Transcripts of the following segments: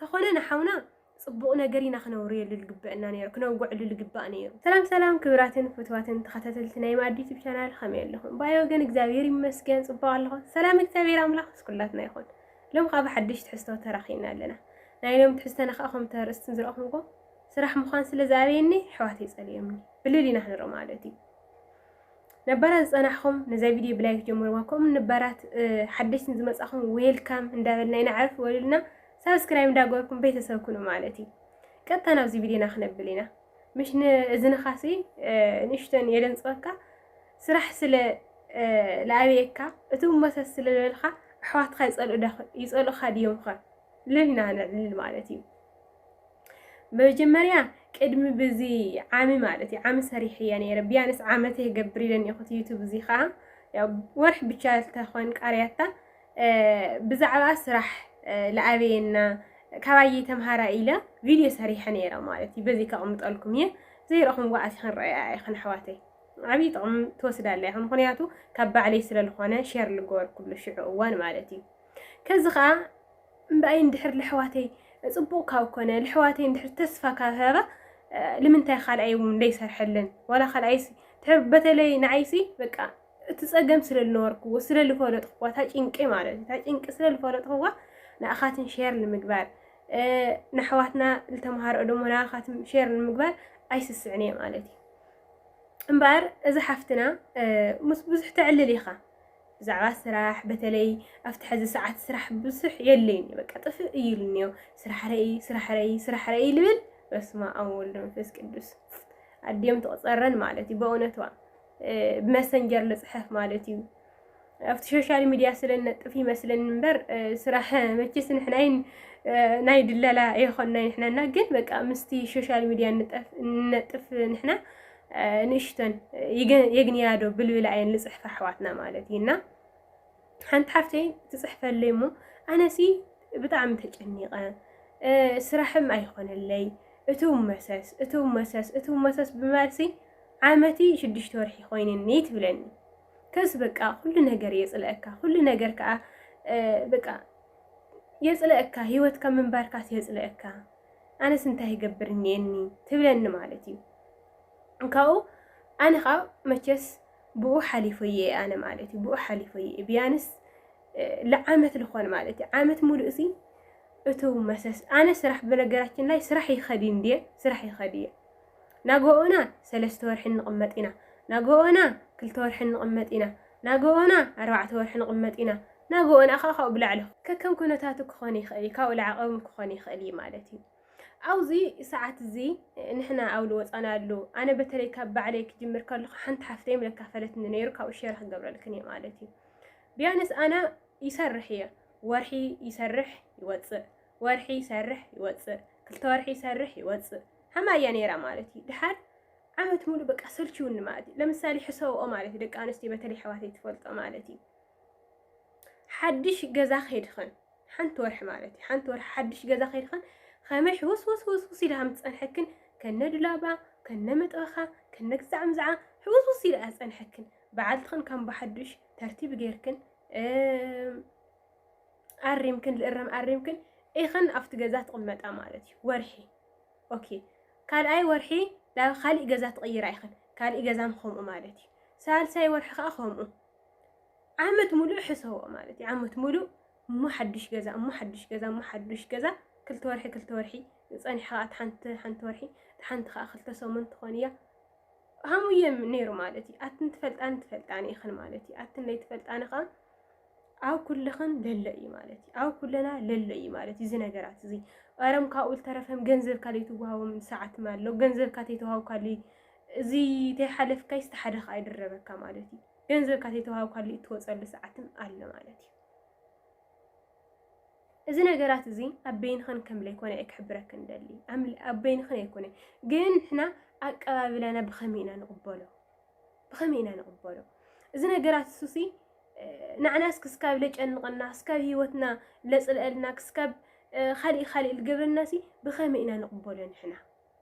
ተኾነ ንሓውና ጽቡቕ ነገር ኢና ክነውርየሉ ልግበእና ነይሩ ክነውግዐሉ ልግባእ ነይሩ። ሰላም ሰላም ክብራትን ፍትዋትን ተኸታተልቲ ናይ ማኣዲ ዩቱብ ቻናል ኸመይ ኣለኹም ብኣይ ወገን እግዚኣብሔር ይመስገን ጽቡቕ ኣለኹ ሰላም እግዚኣብሔር ኣምላኽ ምስ ኩላትና ይኹን ሎም ኸኣ ብሓድሽ ትሕዝቶ ተራኺብና ኣለና ናይ ሎም ትሕዝተና ኸኣ ከምቲ ኣርእስትን ዝረእኹምዎ ስራሕ ምዃን ስለ ዝኣበየኒ ኣሕዋተይ ጸሊኦምኒ ብልል ኢና ክንርኢ ማለት እዩ ነባራት ዝጸናሕኹም ነዛ ቪድዮ ብላይክ ጀምርዋ ከምኡ ንባራት ሓደሽቲ ንዝመጻኹም ዌልካም እንዳበልና ኢና ዕርፍ በሉልና ሳብስክራይብ እንዳገበርኩም ቤተሰብ ኩኑ ማለት እዩ ቀጥታ ናብዚ ቪድዮና ክነብል ኢና ምሽ ንእዝንኻሲ ንእሽተን የደንጽበካ ስራሕ ስለ ለኣብየካ እቲ መሰስ ስለ ዝበልካ ኣሕዋትካ ይጸልኡኻ ድዮም ኸ ልልና ንዕልል ማለት እዩ መጀመርያ ቅድሚ ብዚ ዓሚ ማለት እዩ ዓሚ ሰሪሕ እየ ነይረ ቢያንስ ዓመት የገብር ኢለን ይኹት ዩቱብ እዚ ከዓ ያው ወርሒ ብቻ ዝተኾን ቃርያታ ብዛዕባ ስራሕ ለኣበየና ካባየ ተምሃራ ኢለ ቪድዮ ሰሪሐ ነይረ ማለት እዩ በዚ ከቕምጠልኩም እየ ዘይረኹም ጓዓት ክንረአያ ኢኽን ኣሕዋተይ ዓብዪ ጥቕሚ ትወስዳለ ኢኹን ምክንያቱ ካብ ባዕለይ ስለዝኾነ ሸር ልገበርኩሉ ሽዑ እዋን ማለት እዩ ከዚ ከዓ እምበኣይ እንድሕር ለሕዋተይ ጽቡቅ ካብ ኮነ ለሕዋተይ እንድሕር ተስፋ ካብ ሃባ ልምንታይ ካልኣይ ውን ለይሰርሐለን ዋላ ካልኣይሲ ድሕር በተለይ ንዓይሲ በቃ እቲ ጸገም ስለ ልነበርክዎ ስለ ልፈለጥክዋ እታ ጭንቂ ማለት እዩ እታ ጭንቂ ስለ ልፈለጥክዋ ንኣኻትን ሼር ንምግባር ንኣሕዋትና ዝተምሃርኦ ደሞ ንኣኻትም ሼር ንምግባር ኣይስስዕን እየ ማለት እዩ እምበኣር እዚ ሓፍትና ምስ ብዙሕ ተዕልል ኢኻ ብዛዕባ ስራሕ በተለይ ኣብቲ ሐዚ ሰዓት ስራሕ ብዙሕ የለይን እዩ በቃ ጥፍእ እይሉኒ እዮ ስራሕ ረኢ ስራሕ ረኢ ስራሕ ረኢ ልብል በስማኣም ወልድ መንፈስ ቅዱስ ኣዲኦም ትቕፀረን ማለት እዩ በእውነትዋ ብመሰንጀር ልፅሐፍ ማለት እዩ ኣብቲ ሶሻል ሚድያ ስለ ነጥፍ ይመስለኒ እምበር ስራሕ መቼስ ንሕናይን ናይ ድለላ የኾናይ ንሕናና ግን በቃ ምስቲ ሶሻል ሚድያ ንነጥፍ ንሕና ንእሽቶን የግንያዶ ብልብላ እየን ልፅሕፋ ኣሕዋትና ማለት እዩ እና ሓንቲ ሓፍተይ ትፅሕፈለይ እሞ ኣነሲ ብጣዕሚ ተጨኒቐ ስራሕም ኣይኾነለይ እቲ መሰስ እቲ መሰስ እቲ መሰስ ብምባልሲ ዓመቲ ሽዱሽተ ወርሒ ኮይንኒ ትብለኒ ከስ በቃ ኩሉ ነገር የፅለአካ ኩሉ ነገር ከዓ በቃ የፅለአካ ሂወትካ ምንባርካስ የፅለአካ ኣነስ እንታይ ይገብር እኒኤኒ ትብለኒ ማለት እዩ ካብኡ ኣነ ከዓ መቸስ ብኡ ሓሊፈ እየ ኣነ ማለት እዩ ብኡ ሓሊፈ እየ ቢያንስ ለዓመት ልኾን ማለት እዩ ዓመት ሙሉእ ሲ እቱ መሰስ ኣነ ስራሕ በነገራችን ላይ ስራሕ ይኸዲ እንዲየ ስራሕ ይኸዲ እየ ናግኦና ሰለስተ ወርሒ ንቕመጥ ኢና ናግኦና ክልተ ወርሒ ንቕመጥ ኢና ናግኦና ኣርባዕተ ወርሒ ንቕመጥ ኢና ናግኦና ከኣ ካብኡ ብላዕሊ ከከም ኩነታቱ ክኾን ይኽእል እዩ ካብኡ ላዕሊ እውን ክኾን ይኽእል እዩ ማለት እዩ ኣብዚ ሰዓት እዚ ንሕና ኣብ ዝወፃናሉ ኣነ በተለይ ካብ ባዕለይ ክጅምር ከለኹ ሓንቲ ሓፍተይ ምለካፈለትኒ ነይሩ ካብኡ ሸር ክገብረልክን እየ ማለት እዩ ቢያንስ ኣነ ይሰርሕ እየ ወርሒ ይሰርሕ ይወፅእ ወርሒ ይሰርሕ ይወጽእ ክልተ ወርሒ ይሰርሕ ይወጽእ ሀማይ እያ ነይራ ማለት እዩ ድሓር ዓመት ሙሉ በቃ ሰልችውኒ ማለት እዩ ለምሳሌ ሕሰብኦ ማለት እዩ ደቂ ኣንስትዮ በተለይ ኣሕዋተይ ትፈልጦ ማለት እዩ ሓድሽ ገዛ ከይድኽን ሓንቲ ወርሒ ማለት እዩ ሓንቲ ወርሒ ሓድሽ ገዛ ከይድኽን ከመይ ሕውስ ወስ ወስ ውስ ኢልሃም ትፀንሐክን ከነ ዱላባ ከነ መጥበኻ ከነ ግዛዕ ምዛዓ ሕውስ ውስ ኢልኣ ፀንሐክን በዓልትኽን ከም ብሓዱሽ ተርቲብ ጌርክን ኣሪምክን ልእረም ኣሪምክን ኢኽን ኣብቲ ገዛ ትቕመጣ ማለት እዩ ወርሒ ኦኬ ካልኣይ ወርሒ ናብ ካሊእ ገዛ ትቕይራ ኢኽን ካሊእ ገዛም ከምኡ ማለት እዩ ሳልሳይ ወርሒ ከዓ ከምኡ ዓመት ሙሉእ ሕሰቦ ማለት እዩ ዓመት ሙሉእ እሞ ሓዱሽ ገዛ እሞ ሓዱሽ ገዛ እሞ ሓዱሽ ገዛ ክልተ ወርሒ ክልተ ወርሒ ፀኒሕኻ እቲ ሓንቲ ሓንቲ ወርሒ እቲ ሓንቲ ከዓ ክልተ ሰሙን ትኾን እያ ከምኡ እዩ ነይሩ ማለት እዩ ኣትን ትፈልጣን ትፈልጣን ኢኽን ማለት እዩ ኣትን ለይትፈልጣን ኸ ኣብ ኩልኽን ለሎ እዩ ማለት እዩ ኣብ ኩልና ለሎ እዩ ማለት እዩ እዚ ነገራት እዚ ቐረም ካብኡ ዝተረፈም ገንዘብ ካልእ ትወሃቦም ሰዓት ኣሎ ገንዘብ ካተይ ተዋሃብ ካልእ እዚ ተይሓለፍካይ ዝተሓደኻ ኣይድረበካ ማለት እዩ ገንዘብ ካተይ ተዋሃብ ካልእ እትወፀሉ ሰዓትም ኣሎ ማለት እዩ እዚ ነገራት እዚ ኣብ በይንኽን ከም ዘይኮነ እየ ክሕብረክን ደሊ ኣብ በይንኽን ኣይኮነ ግን ንሕና ኣቀባብላና ብኸመይ ኢና ንቕበሎ ብኸመይ ኢና ንቕበሎ እዚ ነገራት እሱሲ ንዓናስ ክስካብ ለጨንቐና ክስካብ ሂወትና ለፅልአልና ክስካብ ካልእ ካልእ ዝገብረናሲ ብኸመይ ኢና ንቕበሎ ንሕና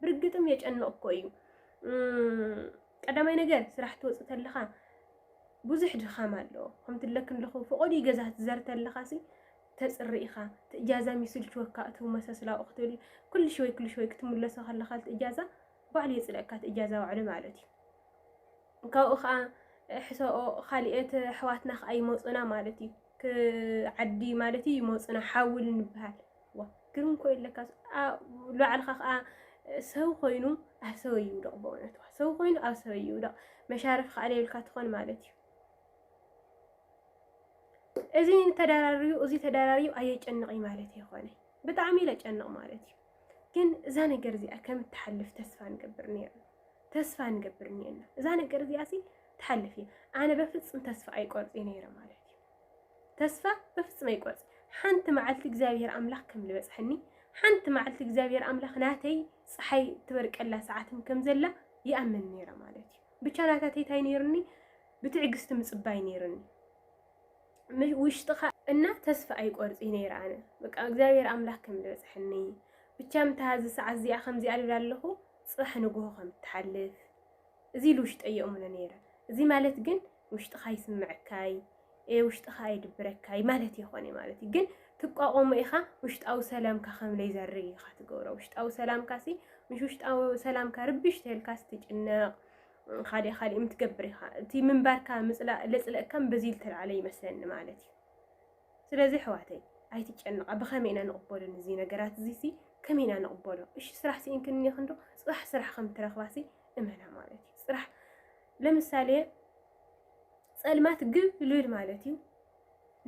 ብርግጥም የጨንቕ እኮ እዩ። ቀዳማይ ነገር ስራሕ ትወፅእ ተለኻ ብዙሕ ድኻም ኣለዎ ከምቲ ለክ ኣለኹ ፈቐዱ ገዛ ትዘር ተለኻ ሲ ተፅሪ ኢኻ ትእጃዛ ሚስልችወካ እቲ መሰስላኡ ክትብል ኩሉ ሽወይ ኩሉ ሽወይ ክትምለሶ ከለኻ ትእጃዛ ባዕሉ የፅልእካ ትእጃዛ ባዕሉ ማለት እዩ ካብኡ ከዓ ሕሰኦ ካሊኤት ኣሕዋትና ከዓ ይመፁና ማለት እዩ ዓዲ ማለት እዩ ይመፁና ሓውል ንበሃል ዋእ ግርም ኮዩ ለካስ ሉዓልኻ ከኣ ሰው ኮይኑ ኣብ ሰበይ ይውደቕ በእውነት ዋ ሰው ኮይኑ ኣብ ሰበይ ይውደቕ መሻርፍ ከኣ ለይብልካ ትኾን ማለት እዩ እዚ ተደራርዩ እዚ ተደራርዩ ኣየጨንቕይ ማለት የኾነ ብጣዕሚ ኢለ ጨንቕ ማለት እዩ ግን እዛ ነገር እዚኣ ከም እትሓልፍ ተስፋ ንገብር ነርና ተስፋ ንገብር ነርና እዛ ነገር እዚኣ ሲ ትሓልፍ እየ ኣነ በፍፅም ተስፋ ኣይቆርፅ ነይረ ማለት እዩ ተስፋ በፍጽም ኣይቆርጽ ሓንቲ መዓልቲ እግዚኣብሔር ኣምላኽ ከም ዝበጽሐኒ ሓንቲ መዓልቲ እግዚኣብሔር ኣምላኽ ናተይ ፀሓይ ትበርቀላ ሰዓትም ከም ዘላ ይኣምን ነይረ ማለት እዩ ብቻ ናታተይ እንታይ ነይሩኒ ብትዕግስቲ ምፅባይ ነይሩኒ ውሽጥኻ እና ተስፋ ኣይቆርፅ ነይረ ኣነ በቃ እግዚኣብሔር ኣምላኽ ከም ዝበፅሐኒ ብቻ ምታ እዚ ሰዓት እዚኣ ከምዚኣ ልብል ኣለኹ ፅባሕ ንግሆ ከም ትሓልፍ እዚ ኢሉ ውሽጠይ የእምኖ ነይረ። እዚ ማለት ግን ውሽጥኻ ይስምዐካይ ውሽጥኻ ኣይድብረካይ ማለት የኾነይ ማለት እዩ ግን ትቋቆሞ ኢኻ ውሽጣዊ ሰላምካ ከም ለይዘርግ ኢኻ ትገብሮ ውሽጣዊ ሰላምካ ሲ ምሽ ውሽጣዊ ሰላምካ ርብሽ ተልካስ ትጭነቕ ካሊእ ካሊእ ምትገብር ኢኻ እቲ ምንባርካ ምፅላእ ለፅለእካም በዚ ዝተልዓለ ይመስለኒ ማለት እዩ ስለዚ ኣሕዋተይ ኣይትጨነቃ ብከመይ ኢና ንቅበሎ ንዚ ነገራት እዚ ሲ ከመይ ኢና ንቅበሎ እሺ ስራሕ ሲኢንክን እኒክን ዶ ፅባሕ ስራሕ ከም ትረክባ ሲ እመና ማለት እዩ ፅራሕ ለምሳሌ ፀልማት ግብ ልብል ማለት እዩ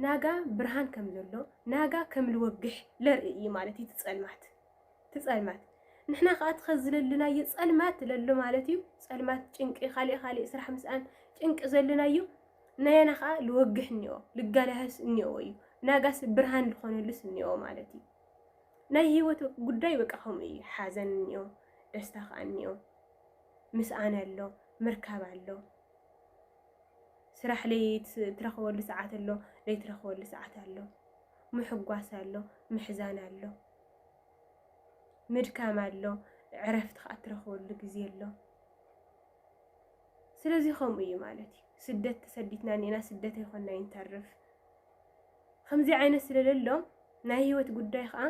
ናጋ ብርሃን ከም ዘሎ ናጋ ከም ልወግሕ ለርኢ እዩ ማለት እዩ ትፀልማት ትፀልማት ንሕና ከዓ ትኸዚ ለለናዮ ፀልማት ለሎ ማለት እዩ ፀልማት ጭንቂ ካሊእ ካሊእ ስራሕ ምስኣን ጭንቂ ዘለናዮ ናያና ከዓ ልወግሕ እኒኦ ልጋላህስ እኒኦ እዩ ናጋስ ብርሃን ልኾነሉስ እኒኦ ማለት እዩ ናይ ህይወት ጉዳይ በቃ ከምኡ እዩ ሓዘን እኒኦ ደስታ ከዓ እኒኦ ምስኣን ኣሎ ምርካብ ኣሎ ስራሕ ለይትረኽበሉ ሰዓት ኣሎ ለይትረኽበሉ ሰዓት ኣሎ ምሕጓስ ኣሎ ምሕዛን ኣሎ ምድካም ኣሎ ዕረፍቲ ከዓ እትረኽበሉ ግዜ ኣሎ ስለዚ ከምኡ እዩ ማለት እዩ ስደት ተሰዲትና እኒና ስደት ኣይኮና ይንተርፍ ከምዚ ዓይነት ስለለሎ ናይ ህይወት ጉዳይ ከዓ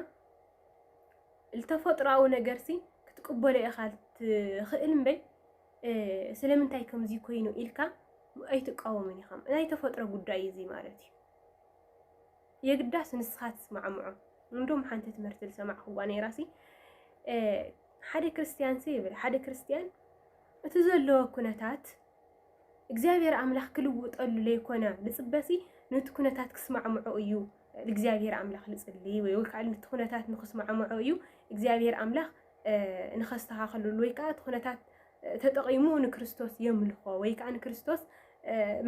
ዝተፈጥሮኣዊ ነገርሲ ክትቅበሎ ኢኻ ትኽእል እምበይ ስለምንታይ ከምዚ ኮይኑ ኢልካ ኣይትቃወምን ኢኻ ናይ ተፈጥሮ ጉዳይ እዚ ማለት እዩ የግዳስ ንስኻ ትስማዕምዖ እንዶም ሓንቲ ትምህርቲ ዝሰማዕክዋ ነይራሲ ሓደ ክርስትያንሲ ይብል ሓደ ክርስትያን እቲ ዘለዎ ኩነታት እግዚኣብሔር ኣምላኽ ክልውጠሉ ለይኮነ ልፅበሲ ነቲ ኩነታት ክስማዕምዖ እዩ እግዚኣብሔር ኣምላኽ ልፅሊ ወይ ወልካዓ ነቲ ኩነታት ንክስማዕምዖ እዩ እግዚኣብሔር ኣምላኽ ንኸስተኻኸልሉ ወይ ከዓ እቲ ኩነታት ተጠቒሙ ንክርስቶስ የምልኾ ወይ ከዓ ንክርስቶስ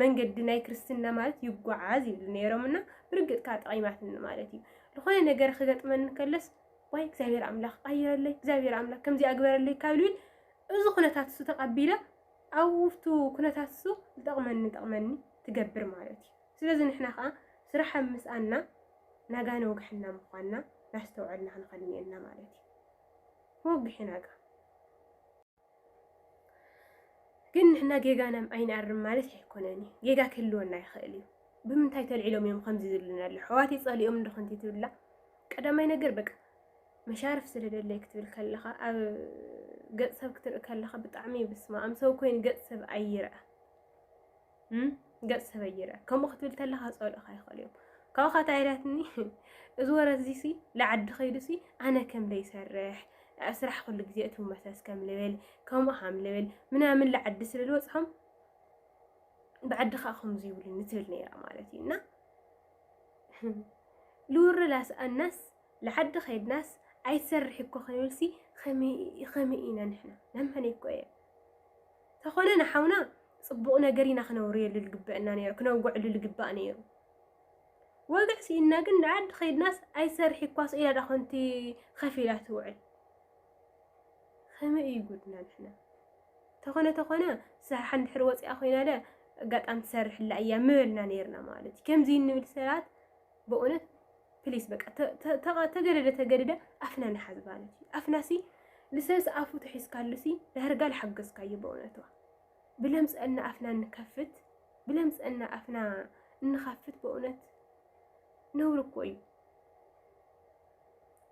መንገዲ ናይ ክርስትና ማለት ይጓዓዝ ይብሉ ነይሮም እና ብርግጥ ከዓ ጠቒማትኒ ማለት እዩ ዝኾነ ነገር ክገጥመን ከለስ ዋይ እግዚኣብሔር ኣምላኽ ቀይረለይ እግዚኣብሔር ኣምላኽ ከምዚ ኣግበረለይ ካብ ልብል እዚ ኩነታት እሱ ተቐቢላ ኣብቱ ኩነታት እሱ ዝጠቕመኒ ጠቕመኒ ትገብር ማለት እዩ ስለዚ ንሕና ከኣ ስራሕ ኣብ ምስኣና ናጋን ወግሕና ምኳንና ናስተውዐልና ክንኸድ እኒኤና ማለት እዩ። ወግሒ ናጋ ግን ንሕና ጌጋና ኣይንኣርም ማለት ኣይኮነን እዩ። ጌጋ ክህልወና ይኽእል እዩ። ብምንታይ ተልዒሎም እዮም ከምዚ ዝብሉና ኣሎ ሕዋት ይጸሊኦም እንዶ ኮንቲ ትብላ ቀዳማይ ነገር በቃ መሻርፍ ስለ ደለይ ክትብል ከለኻ ኣብ ገጽ ሰብ ክትርኢ ከለኻ ብጣዕሚ ብስማ ኣም ሰብ ኮይኑ ገጽ ሰብ ኣይርኣ ገጽ ሰበይ ይርአ ከምኡ ክትብል ተለኻ ጸልእኻ ይኽእል እዮም ካብኻ እንታይ ኢላትኒ እዚ ወረ እዚሲ ንዓዲ ከይዱሲ ኣነ ከም ዘይሰርሕ ስራሕ ኩሉ ግዜ እቲ መሰስ ከም ልብል ከምኡ ሃም ልብል ምናምን ልዓዲ ስለ ዝበፅሖም ብዓዲ ከዓ ከምዚ ይብሉኒ ትብል ነይራ ማለት እዩ እና ልውርላስ ኣናስ ልዓዲ ከይድናስ ኣይሰርሕ እኮ ክንብልሲ ከመይ ከመይ ኢና ንሕና ነመነይ እኮ እየ ተኾነ ንሓውና ጽቡቕ ነገር ኢና ክነውርየሉ ልግበእና ነይሩ ክነውግዕሉ ልግባእ ነይሩ ወግዕ ስኢንና ግን ልዓዲ ከይድናስ ኣይሰርሕ እኳ ስኢላ ዳ ኮንቲ ከፍ ኢላ ትውዕል ከመይ እዩ ጉድና ንሕና ተኾነ ተኾነ ስራሕ እንድሕር ወፂኣ ኮይና ደ ኣጋጣሚ ትሰርሕላ እያ ምበልና ነይርና ማለት እዩ ከምዚ እንብል ሰባት በእውነት ፕሊስ በቃ ተገደደ ተገደደ ኣፍና ንሓዝ ማለት እዩ ኣፍና ሲ ልሰስ ኣፉ ተሒዝካሉ ሲ ዳርጋ ልሓገዝካዩ በእውነትዋ ብለምፀና ኣፍና እንከፍት ብለምፀና ኣፍና እንኸፍት በእውነት ነውሪ እኮ እዩ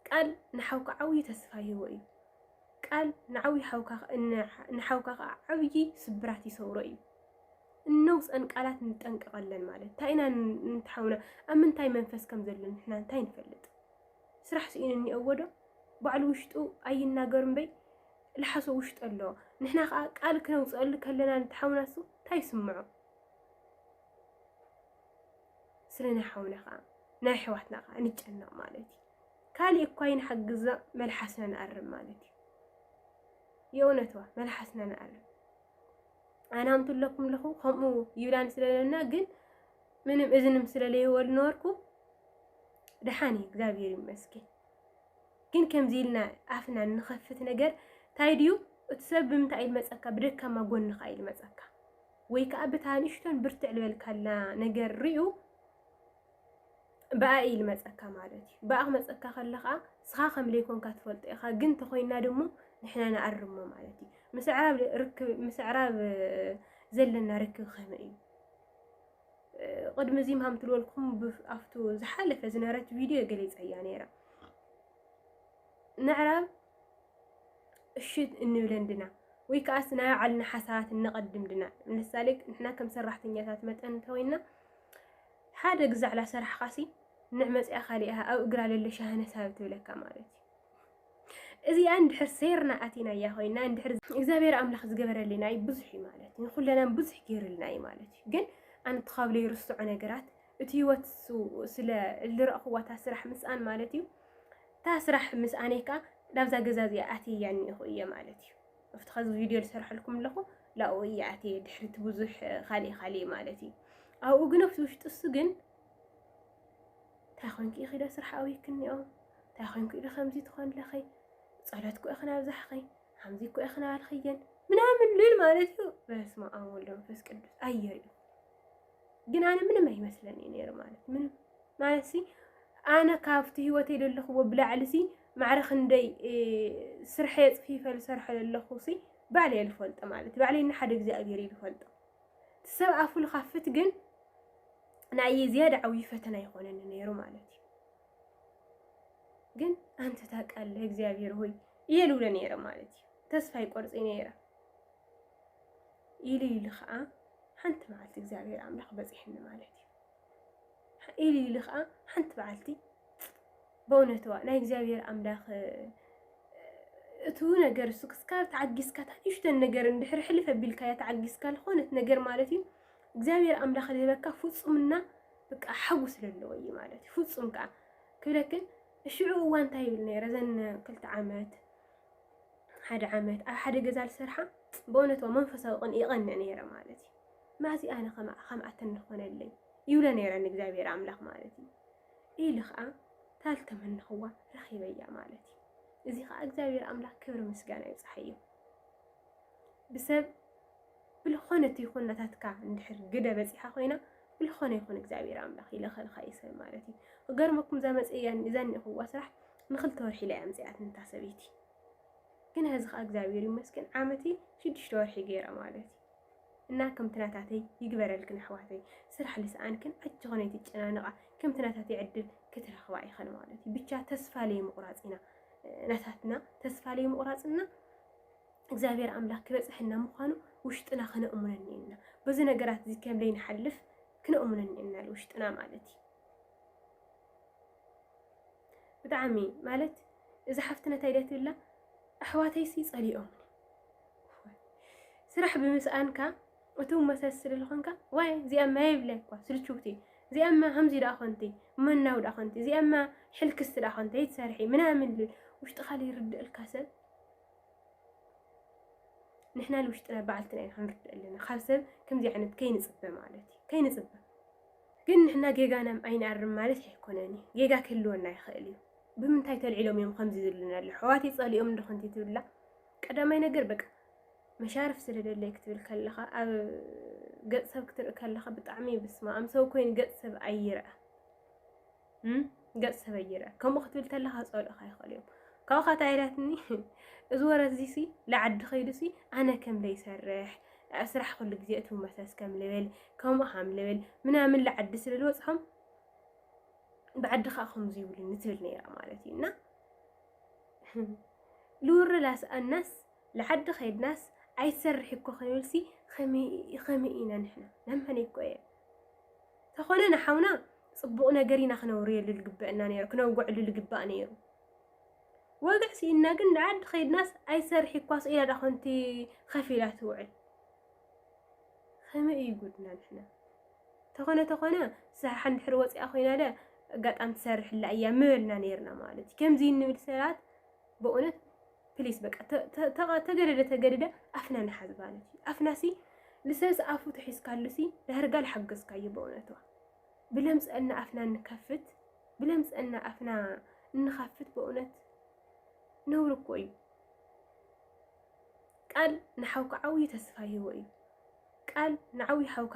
ቃል ንሓውካ ዓብዪ ተስፋ ይህቦ እዩ ቃል ንዓብዪ ሓውካ ንሓውካ ከዓ ዓብዪ ስብራት ይሰውሮ እዩ እነውፀን ቃላት ንጠንቀቐለን ማለት እንታይ ኢና ንትሓውና ኣብ ምንታይ መንፈስ ከም ዘሎ ንሕና እንታይ ንፈልጥ ስራሕ ስኢኑ እኒኦዎ ዶ ባዕሉ ውሽጡ ኣይናገር እምበይ ልሓሶ ውሽጡ ኣሎ ንሕና ከዓ ቃል ክነውፅአሉ ከለና ንትሓውና ሱ እንታይ ይስምዖ ስለ ናይ ሓውና ከዓ ናይ ኣሕዋትና ከዓ ንጨነቕ ማለት እዩ ካሊእ እኳ ይንሓግዛ መልሓስና ንኣርም ማለት እዩ የእውነትዋ መልሓስና ንኣርም ኣነ ኣምትለኩም ኣለኹ ከምኡ ይብላን ስለለና ግን ምንም እዝንም ስለለይወል ኖርኩ ደሓን እዩ እግዚኣብሔር ይመስገን። ግን ከምዚ ኢልና ኣፍና ንኸፍት ነገር እንታይ ድዩ እቲ ሰብ ብምንታይ ኢሉ መፀካ ብደካማ ጎንኻ ኢሉ መፀካ ወይ ከዓ ብታ ንእሽቶን ብርትዕ ልበልካላ ነገር ርዩ ብኣይ እዩ ልመጸካ ማለት እዩ ብኣ ክመጸካ ከሎ ከኣ ንስኻ ከም ለይኮንካ ትፈልጦ ኢኻ ግን ተኾይና ድሞ ንሕና ንኣርሞ ማለት እዩ ምስ ኣዕራብ ርክብ ምስ ኣዕራብ ዘለና ርክብ ከመይ እዩ ቅድሚ እዚ ምሃም ትልወልኩም ኣብቱ ዝሓለፈ ዝነበረት ቪድዮ ገሊፀያ ነይራ ንዕራብ እሺ እንብለን ድና ወይ ከዓስ ናይ ባዕልና ሓሳባት እነቐድም ድና ንምሳሌ ንሕና ከም ሰራሕተኛታት መጠን እንተወይና ሓደ ግዛዕላ ሰራሕኻሲ ንዕ መጺኣ ካሊኣ ኣብ እግራ ለሎ ሻህነ ሳብ ትብለካ ማለት እዩ። እዚኣ እንድሕር ሴርና ኣቲናያ ኮይና እንድሕር እግዚኣብሔር ኣምላኽ ዝገበረልና እዩ ብዙሕ እዩ ማለት እዩ። ንኹለናን ብዙሕ ገይርልና እዩ ማለት እዩ። ግን ኣነ ተኻብለ ይርስዖ ነገራት እቲ ህይወት ስለ ዝረእኽዋታ ስራሕ ምስኣን ማለት እዩ እታ ስራሕ ምስኣነይ ከዓ ናብዛ ገዛ እዚኣ ኣትየያ እኒኹ እየ ማለት እዩ። ኣብቲ ኸዚ ቪድዮ ዝሰርሐልኩም ኣለኹ ላኡ እየ ኣትየ ድሕሪቲ ብዙሕ ካሊእ ካሊእ ማለት እዩ ኣብኡ ግን ኣብቲ ውሽጢ እሱ ግን እንታይ ኮንኪ ኢኺ ዶ ስራሕ ኣውይክኒኦ እንታይ ኮንኩ ኢዶ ከምዚ ትኾን ለኺ ጸሎት ኮ ኢኽን ኣብዛሕኺ ከምዚ ኮ ኢኽን ኣልኽየን ምናምን ልል ማለት እዩ በስመ ኣብ ወወልድ ወመንፈስ ቅዱስ ኣየርእዩ ግን ኣነ ምንም ኣይመስለን እዩ ነይሩ ማለት ምንም ማለት ሲ ኣነ ካብቲ ህይወት የደለኽዎ ብላዕሊ ሲ ማዕረ ክንደይ ስርሐ የፅፊፈ ዝሰርሐ ዘለኹ ሲ ባዕለ ልፈልጦ ማለት ባዕለ ንሓደ እግዚኣብሔር እዩ ዝፈልጦ ሰብ ኣፉ ልካፍት ግን ናይ ዝያዳ ዓብዪ ፈተና ይኾነኒ ነይሩ ማለት እዩ ግን ኣንተ ታውቃለህ እግዚኣብሔር ሆይ እየ ልብሎ ነይረ ማለት እዩ ተስፋ ይቆርፅ ነይረ ኢሉ ኢሉ ከዓ ሓንቲ መዓልቲ እግዚኣብሔር ኣምላኽ በፂሕኒ ማለት እዩ ኢሉ ኢሉ ከዓ ሓንቲ መዓልቲ በእውነትዋ ናይ እግዚኣብሔር ኣምላኽ እቲ ነገር እሱ ክስካብ ተዓጊስካ ታንሽተን ነገር እንድሕር ሕልፍ ኣቢልካያ ተዓጊስካ ዝኾነት ነገር ማለት እዩ እግዚኣብሔር ኣምላኽ ልህበካ ፍፁምና በቃ ሓዊ ስለለዎ እዩ ማለት እዩ ፍፁም ከዓ ክብለክን እሽዑ እዋ እንታይ ይብል ነይረ ዘን ክልተ ዓመት ሓደ ዓመት ኣብ ሓደ ገዛ ዝሰርሓ ብእውነታዊ መንፈሳዊ ቅን ይቐንዕ ነይረ ማለት እዩ ማዚ ኣነ ከምኣተን ንኾነለይ ይብለ ነይረ ንእግዚኣብሔር ኣምላኽ ማለት እዩ ኢሉ ከዓ ታል ተመንኽዋ ረኺበያ ማለት እዩ እዚ ከዓ እግዚኣብሔር ኣምላኽ ክብሪ ምስጋና ይብፅሓዮ ብሰብ ብልኾነት ይኹን ናታትካ እንድሕር ግደ በፂሓ ኮይና ብልኾነ ይኹን እግዚኣብሔር ኣምላኽ ይለኸልካ ይሰብ ማለት እዩ ክገርመኩም እዛ መፅእያን እዛን ይኹዋ ስራሕ ንክልተ ወርሒ ኢላ እያ ኣምጺኣትኒ እታ ሰበይቲ ግን ሐዚ ከዓ እግዚኣብሔር ይመስገን ዓመቲ ሽዱሽተ ወርሒ ገይረ ማለት እዩ እና ከምቲ ናታተይ ይግበረልክን ኣሕዋተይ ስራሕ ልስኣንክን ኣጆኸን ኣይትጨናነቓ ከምቲ ናታተይ ዕድል ክትረኽባ ኢኸን ማለት እዩ ብቻ ተስፋ ለይምቑራፅ ኢና ናታትና ተስፋ ለይምቑራፅና እግዚኣብሔር ኣምላክ ክበፅሐና ምዃኑ ውሽጥና ክነእሙነኒ ኢና በዚ ነገራት እዚ ከም ለይንሓልፍ ክነእሙነኒ ኢና ውሽጥና ማለት እዩ ብጣዕሚ ማለት እዛ ሓፍትና እንታይ ድያ ትብላ ኣሕዋተይሲ ጸሊኦምኒ ስራሕ ብምስኣንካ እቶም መሰስ ስለልኾንካ ዋይ እዚኣማ የብለ እኳ ስልችውቲ እዚኣማ ከምዚ ደኣ ኮንቲ መናው ደኣ ኮንቲ እዚኣማ ሕልክስቲ ደኣ ኮንቲ ይትሰርሒ ምናምን ልብል ውሽጥኻ ይርድእልካ ሰብ ንሕና ንውሽጥና በዓልትና ኢና ክንርድእ ኣለና ካብ ሰብ ከምዚ ዓይነት ከይንፅበ ማለት እዩ ከይንፅበ ግን ንሕና ጌጋናም ኣይንኣርም ማለት ኣይኮነን እዩ ጌጋ ክህልወና ይኽእል እዩ ብምንታይ ተልዒሎም እዮም ከምዚ ዝብሉና ኣሎ ሕዋተይ ጸሊኦም እንዶ ኮንቲ ትብላ ቀዳማይ ነገር በቃ መሻርፍ ስለደለይ ክትብል ከለኻ ኣብ ገጽ ሰብ ክትርኢ ከለኻ ብጣዕሚ ብስማ ኣም ሰብ ኮይኑ ገጽ ሰብ ኣይርኣ ገጽ ሰበይ ይርአ ከምኡ ክትብል ተለካ ክጸልኡካ ይኽእሉ እዮም ካብኡ ካታ ኢላትኒ እዚ ወረዚ ሲ ንዓዲ ከይዱ ሲ ኣነ ከም ዘይሰርሕ ስራሕ ኩሉ ግዜ እቲ መሰስ ከም ልብል ከምኡ ከም ልብል ምናምን ንዓዲ ስለ ዝበጽሖም ብዓዲ ከዓ ከምዚ ይብሉኒ ትብል ነይራ ማለት እዩ እና ልውርላስ ኣናስ ልዓዲ ከይድናስ ኣይትሰርሒ እኮ ክንብልሲ ከመይ ከመይ ኢና ንሕና ነመነይ እኮ እየ ተኾነ ንሓውና ጽቡቕ ነገር ኢና ክነውርየሉ ልግበእና ነይሩ ክነውግዕሉ ልግባእ ነይሩ ወግዕ ስኢንና ግን ልዓዲ ከይድናስ ኣይትሰርሒ እኳ ስኢላ ዳ ኮንቲ ከፍ ኢላ ትውዕል ከመይ እዩ ጉድና ንሕና ተኾነ ተኾነ ስራሕ እንድሕር ወፂኣ ኮይና ደ ኣጋጣሚ ትሰርሕላ እያ ምበልና ነይርና ማለት እዩ ከምዚ እንብል ሰባት በእውነት ፕሊስ በቃ ተገደደ ተገደደ ኣፍና ንሓዝ ማለት እዩ። ኣፍናሲ ልሰስ ኣፉ ተሒዝካሉሲ ዳርጋ ልሓገዝካዩ በእውነቱ ብለምፀና ኣፍና እንከፍት ብለምፀና ኣፍና እንኸፍት በእውነት ነውሪ እኮ እዩ። ቃል ንሓውካ ዓብዪ ተስፋ ይህቦ እዩ። ቃል ንዓብዪ ሓውካ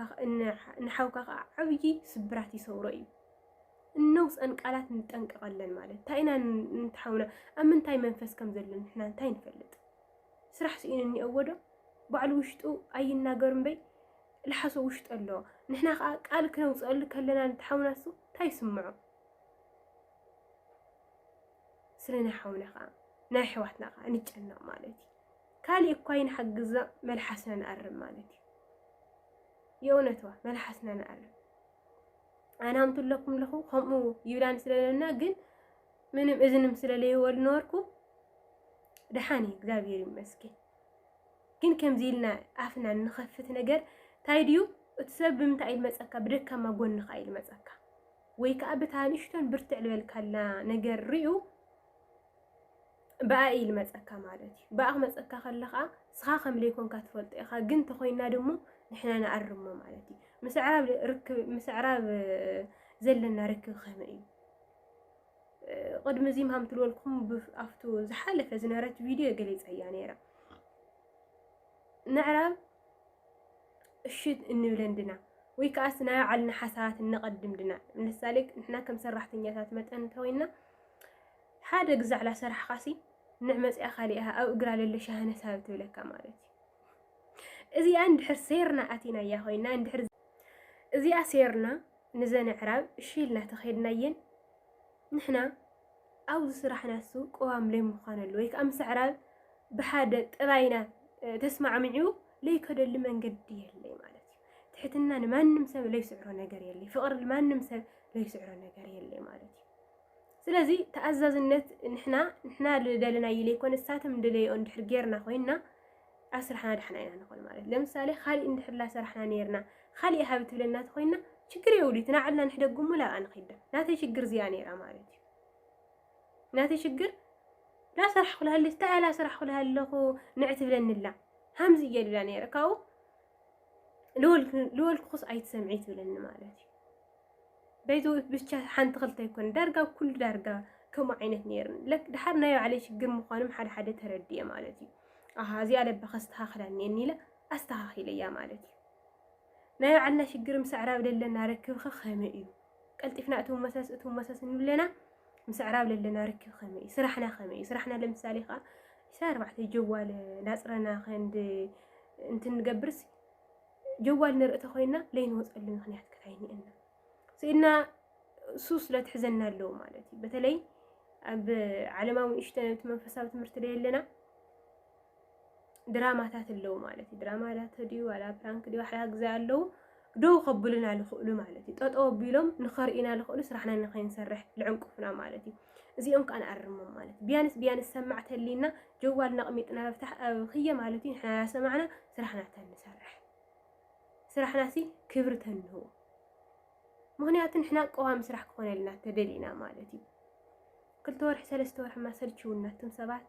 ንሓውካ ከዓ ዓብዪ ስብራት ይሰውሮ እዩ። እነውፀን ቃላት ንጠንቀቐለን ማለት እንታይ ኢና ንትሓውና ኣብ ምንታይ መንፈስ ከም ዘሎ ንሕና እንታይ ንፈልጥ ስራሕ ስኢኑ እኒኦዎ ዶ ባዕሉ ውሽጡ ኣይናገር እምበይ ልሓሶ ውሽጡ ኣሎ ንሕና ከዓ ቃል ክነውፀሉ ከለና ንትሓውና እሱ እንታይ ይስምዖ ስለ ናይ ሓውና ከዓ ናይ ኣሕዋትና ከዓ ንጨነቕ ማለት እዩ ካልእ እኳ ይንሓግዛ መልሓስና ንኣርም ማለት እዩ የእውነትዋ መልሓስና ንኣርም ኣነ ኣምቱ ኣለኩም ኣለኹ ከምኡ ይብላን ስለለና ግን ምንም እዝንም ስለለይወል ኖርኩ ደሓን እዩ እግዚኣብሔር ይመስገን። ግን ከምዚ ኢልና ኣፍና ንኸፍት ነገር እንታይ ድዩ እቲ ሰብ ብምንታይ ኢሉ መፀካ ብደካማ ጎንኻ ኢሉ መፀካ ወይ ከዓ ብታ ንእሽቶን ብርትዕ ልበልካላ ነገር ርዩ ብኣይ እዩ ልመጸካ ማለት እዩ ብኣ ክመጸካ ከሎ ከኣ ንስኻ ከም ለይኮንካ ትፈልጦ ኢኻ ግን ተኾይና ድሞ ንሕና ንኣርሞ ማለት እዩ ምስ ኣዕራብ ርክብ ምስ ኣዕራብ ዘለና ርክብ ከመይ እዩ ቅድሚ እዚ ምሃም ትልወልኩም ኣብቱ ዝሓለፈ ዝነበረት ቪድዮ ገሊፀያ ነይረ ንዕራብ እሺ እንብለን ድና ወይ ከዓስ ናይ ባዕልና ሓሳባት እነቐድም ድና ምሳሌ ንሕና ከም ሰራሕተኛታት መጠን እንተወይና ሓደ ግዛዕላ ሰራሕኻሲ ንዕ መጺኣ ካሊኣ ኣብ እግራ ለሎ ሻህነ ሳብ ትብለካ ማለት እዩ እዚኣ እንድሕር ሴርና ኣቲናያ ኮይና እንድሕር እዚኣ ሴርና ንዘን ኣዕራብ እሺ ኢልና ተኸድናየን ንሕና ኣብዚ ስራሕና እሱ ቅዋም ለይምዃነሉ ወይ ከዓ ምስ ኣዕራብ ብሓደ ጥራይና ተስማዕምዑ ለይከደሉ መንገዲ የለይ ማለት እዩ። ትሕትና ንማንም ሰብ ለይስዕሮ ነገር የለይ። ፍቕሪ ንማንም ሰብ ለይስዕሮ ነገር የለይ ማለት እዩ። ስለዚ ተኣዛዝነት ንሕና ንሕና ደለናዮ ዘይኮነ ንሳቶም ደለይኦ እንድሕር ጌርና ኮይና ኣብ ስራሕና ዳሕና ኢና ንኾን ማለት ለምሳሌ ካሊእ እንድሕር ላሰራሕና ነርና ካሊእ ሃብ ትብለና ተኾይና ችግር የብሉ እቲ ናዕልና ንሕደግሞ ላብኣ ንኺዳ ናተይ ችግር እዚኣ ነይራ ማለት እዩ ናተይ ችግር ላሰራሕኹ ላሃለች ተኣ ላሰራሕኹ ላሃለኹ ንዕ ትብለኒ ኣላ ሃምዚ እየ ድብላ ነይረ ካብኡ ልወልኩኹስ ኣይትሰምዒ ትብለኒ ማለት እዩ በይዘ ብቻ ሓንቲ ክልተ ይኮነ ዳርጋ ኩሉ ዳርጋ ከምኡ ዓይነት ነይርን ለክ ድሓር ናይ ባዕለይ ሽግር ምዃኖም ሓደ ሓደ ተረድየ ማለት እዩ ኣሃ እዚኣ ለባ ከስተኻኽላ እኒአኒ ኢለ ኣስተኻኺለያ ማለት እዩ ናይ ባዕልና ሽግር ምስ ኣዕራብ ዘለና ርክብኸ ከመይ እዩ ቀልጢፍና እትው መሰስ እትው መሰስ ንብለና ምስ ኣዕራብ ለለና ርክብ ከመይ እዩ ስራሕና ከመይ እዩ ስራሕና ለምሳሌ ከዓ ዕስራ ኣርባዕተ ጀዋል ናፅረና ከንድ እንትንገብርስ ጀዋል ንርኢ ተኮይና ለይንወፀሉ ምክንያት ክታይኒአና ስኢድና እሱ ስለትሕዘና ኣለዎ ማለት እዩ በተለይ ኣብ ዓለማዊ ንእሽተን እቲ መንፈሳዊ ትምህርቲ ደየለና ድራማታት ኣለዉ ማለት እዩ። ድራማ ዳተ ድዩ ዋላ ፕራንክ ድዩ ሓደ ግዜ ኣለዉ ደው ከብሉና ዝኽእሉ ማለት እዩ። ጠጠው ኣቢሎም ንኸርእዩና ዝኽእሉ ስራሕና ንኸይንሰርሕ ዝዕንቅፉና ማለት እዩ። እዚኦም ከዓ ንኣርሞም ማለት እዩ። ቢያንስ ቢያንስ ሰማዕ ተሊና ጀዋል ነቕሚጥና ክየ ማለት እዩ። ንሕና ሰማዕና ስራሕና ተንሰርሕ ስራሕና ሲ ክብሪ ተንህቦ ምክንያቱ ንሕና ቀዋሚ ስራሕ ክኾነልና ተደሊና ማለት እዩ። ክልተ ወርሒ ሰለስተ ወርሒ ማሰልችውና እቶም ሰባት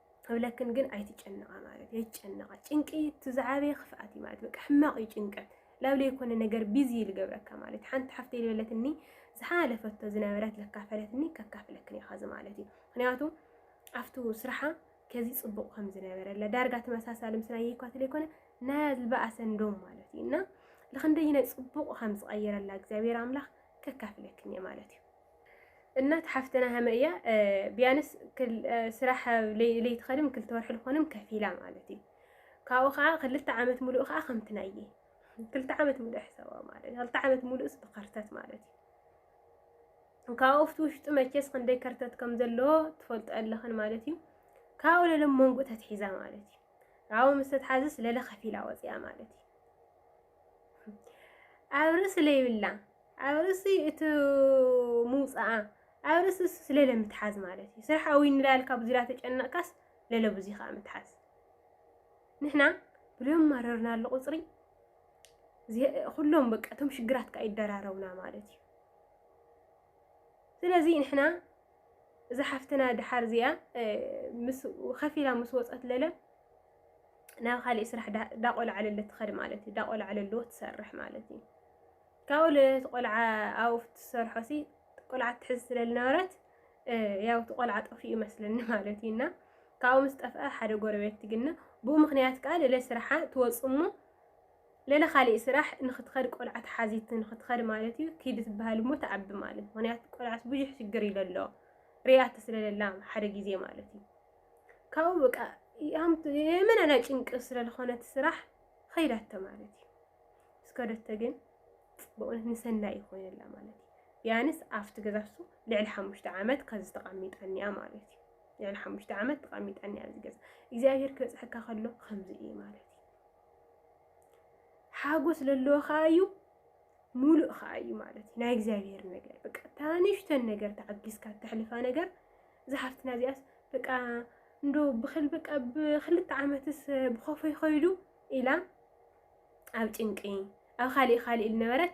እብለክን ግን ኣይትጨነቃ ማለት እዩ ኣይጨነቃ ጭንቂ እቲ ዝዓበየ ክፍኣት እዩ ማለት በቃ ሕማቅ እዩ ጭንቀት ላብ ለይኮነ ነገር ቢዚ እዩ ልገብረካ ማለት ሓንቲ ሓፍተ ዝበለትኒ ዝሓለፈቶ ዝነበረት ዘካፈለትኒ ከካፍለክን እየ ኸዚ ማለት እዩ ምክንያቱ ኣብቲ ስራሓ ከዚ ፅቡቅ ከም ዝነበረለ ዳርጋ ተመሳሳሊ ምስ ናይ ይኳት ለይኮነ ናይ ዝበኣሰ እንዶም ማለት እዩ እና ልክንደይ ናይ ፅቡቅ ከም ዝቀየረላ እግዚኣብሔር ኣምላክ ከካፍለክን እየ ማለት እዩ እናት ሓፍትና ሃመ እያ ቢያንስ ስራሕ ለይትኸድም ክልተ ወርሒ ዝኾንም ከፊላ ማለት እዩ ካብኡ ከዓ ክልተ ዓመት ሙሉእ ከዓ ከምቲ ናየ ክልተ ዓመት ሙሉእ ሕሰባ ማለት እዩ ክልተ ዓመት ሙሉእስ ብኸርተት ማለት እዩ ካብኡ ኣብቲ ውሽጡ መቼስ ክንደይ ከርተት ከም ዘለዎ ትፈልጦ ኣለኽን ማለት እዩ ካብኡ ለለ መንጉ ተትሒዛ ማለት እዩ ካብኡ ምስ ተትሓዝስ ለለ ከፊላ ወፅያ ማለት እዩ ኣብ ርእሲ ለይብላ ኣብ ርእሲ እቲ ምውፃኣ ኣብ ርእሲ ስለለ ምትሓዝ ማለት እዩ ስራሕ ኣዊ ንላል ካብ ዙሪያ ተጨነቕካስ ለለ ብዙ ከዓ ምትሓዝ ንሕና ብልዮም ማረርና ኣሎ ቁፅሪ ኩሎም በቃ እቶም ሽግራት ከዓ ይደራረቡና ማለት እዩ ስለዚ ንሕና እዛ ሓፍትና ድሓር እዚኣ ምስ ከፊላ ምስ ወፀት ለለ ናብ ካሊእ ስራሕ ዳቆልዓለለ ትኸድ ማለት እዩ። ዳቆልዓለለዎ ትሰርሕ ማለት እዩ። ካብኡ ልእቲ ቆልዓ ኣብኡ ትሰርሖ ሲ ቆልዓ ትሕዝ ስለ ዝነበረት ያው እቲ ቆልዓ ጠፊኡ ይመስለኒ ማለት እዩ እና ካብኡ ምስ ጠፍአ ሓደ ጎረቤት ትግነ ብኡ ምክንያት ከዓ ለለ ስራሓ ትወፅ እሞ ለለ ካሊእ ስራሕ ንክትኸድ ቆልዓ ተሓዚት ንክትኸድ ማለት እዩ ኪድ ትበሃል እሞ ተዓቢ ማለት ምክንያቱ ቆልዓስ ብዙሕ ሽግር ይለሎ ሪኣቲ ስለለላ ሓደ ግዜ ማለት እዩ ካብኡ በቃ የመና ናይ ጭንቂ ስለ ዝኾነት ስራሕ ኸይዳቶ ማለት እዩ እስከደቶ ግን ብእውነት ንሰናይ እዩ ኮይነላ ማለት እዩ ቢያንስ ኣብቲ ገዛሱ ልዕሊ ሓሙሽተ ዓመት ከዚ ተቐሚጣኒያ ማለት እዩ ልዕሊ ሓሙሽተ ዓመት ተቐሚጣኒያ እዚ ገዛ እግዚኣብሄር ክበፅሐካ ከሎ ከምዚ እዩ ማለት እዩ ሓጎስ ዘለዎ ከዓ እዩ ሙሉእ ከዓ እዩ ማለት እዩ ናይ እግዚኣብሄር ነገር በቃ ታንሽተን ነገር ተዓጊዝካ ተሕልፋ ነገር እዛ ሓፍትና እዚኣስ በቃ እንዶ ብክል በቃ ብክልተ ዓመትስ ብኮፎ ይኸይዱ ኢላ ኣብ ጭንቂ ኣብ ካሊእ ካሊእ ዝነበረት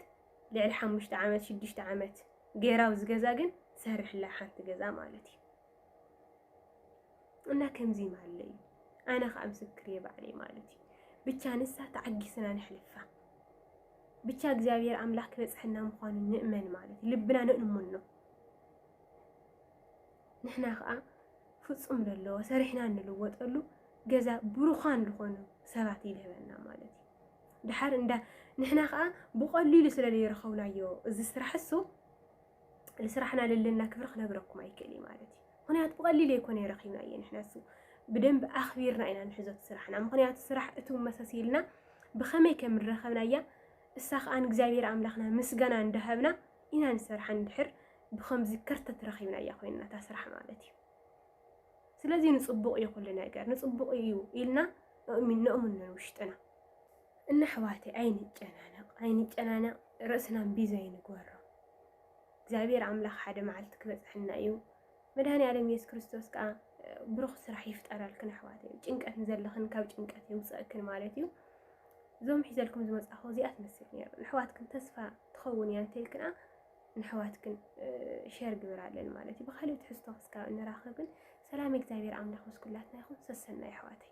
ልዕሊ ሓሙሽተ ዓመት ሽዱሽተ ዓመት ገይራ ኣብዚ ገዛ ግን ትሰርሕላ ሓንቲ ገዛ ማለት እዩ እና ከምዚ ማለ እዩ ኣነ ከዓ ምስክር እየ ባዕለይ ማለት እዩ ብቻ ንሳ ተዓጊስና ንሕልፋ ብቻ እግዚኣብሔር ኣምላክ ክበፅሐና ምኳኑ ንእመን ማለት እዩ ልብና ንእሙን ነው ንሕና ከዓ ፍፁም ለለዎ ሰሪሕና እንልወጠሉ ገዛ ብሩዃን ዝኾኑ ሰባት ይልህበና ማለት እዩ ድሓር እንዳ ንሕና ከዓ ብቐሊሉ ስለ ዘይረኸብናዮ እዚ ስራሕ እሱ ንስራሕና ለለና ክብሪ ክነግረኩም ኣይክእል እዩ ማለት እዩ ምክንያቱ ብቐሊሉ ኣይኮነ ረኺብናዮ ንሕና እሱ ብደንብ ኣኽቢርና ኢና ንሕዞ ስራሕና ምክንያቱ ስራሕ እቱ መሰሲልና ብኸመይ ከም ንረኸብናያ እሳ ከዓ ንእግዚኣብሔር ኣምላኽና ምስጋና እንዳሃብና ኢና ንሰርሓ እንድሕር ብከምዚ ከርተት ረኺብናያ ኮይንና እታ ስራሕ ማለት እዩ ስለዚ ንፅቡቕ እዩ ኩሉ ነገር ንፅቡቕ እዩ ኢልና ነእምኖ ውሽጥና እና ኣሕዋተ ኣይንጨናነቕ ኣይንጨናነቕ ርእስና ቢዘይ ንግበሮ እግዚኣብሔር ኣምላኽ ሓደ መዓልቲ ክበፅሐና እዩ መድሃኒኣለም የሱስ ክርስቶስ ከኣ ብሩኽ ስራሕ ይፍጠረልክን ኣሕዋተይ ጭንቀት ንዘለኽን ካብ ጭንቀት የውፅእክን ማለት እዩ እዞም ሒዘልኩም ዝመፅእኹ እዚኣ ትመስል ነይሩ ንሕዋትክን ተስፋ ትኸውን እያ እንተልክንኣ ንሕዋትክን ሸር ግብር ኣለን ማለት እዩ ብካልእ ትሕዝቶ ክስካብ እንራኸብን ሰላም እግዚኣብሔር ኣምላኽ ምስ ኩላትና ይኹን ሰሰና ይሕዋተይ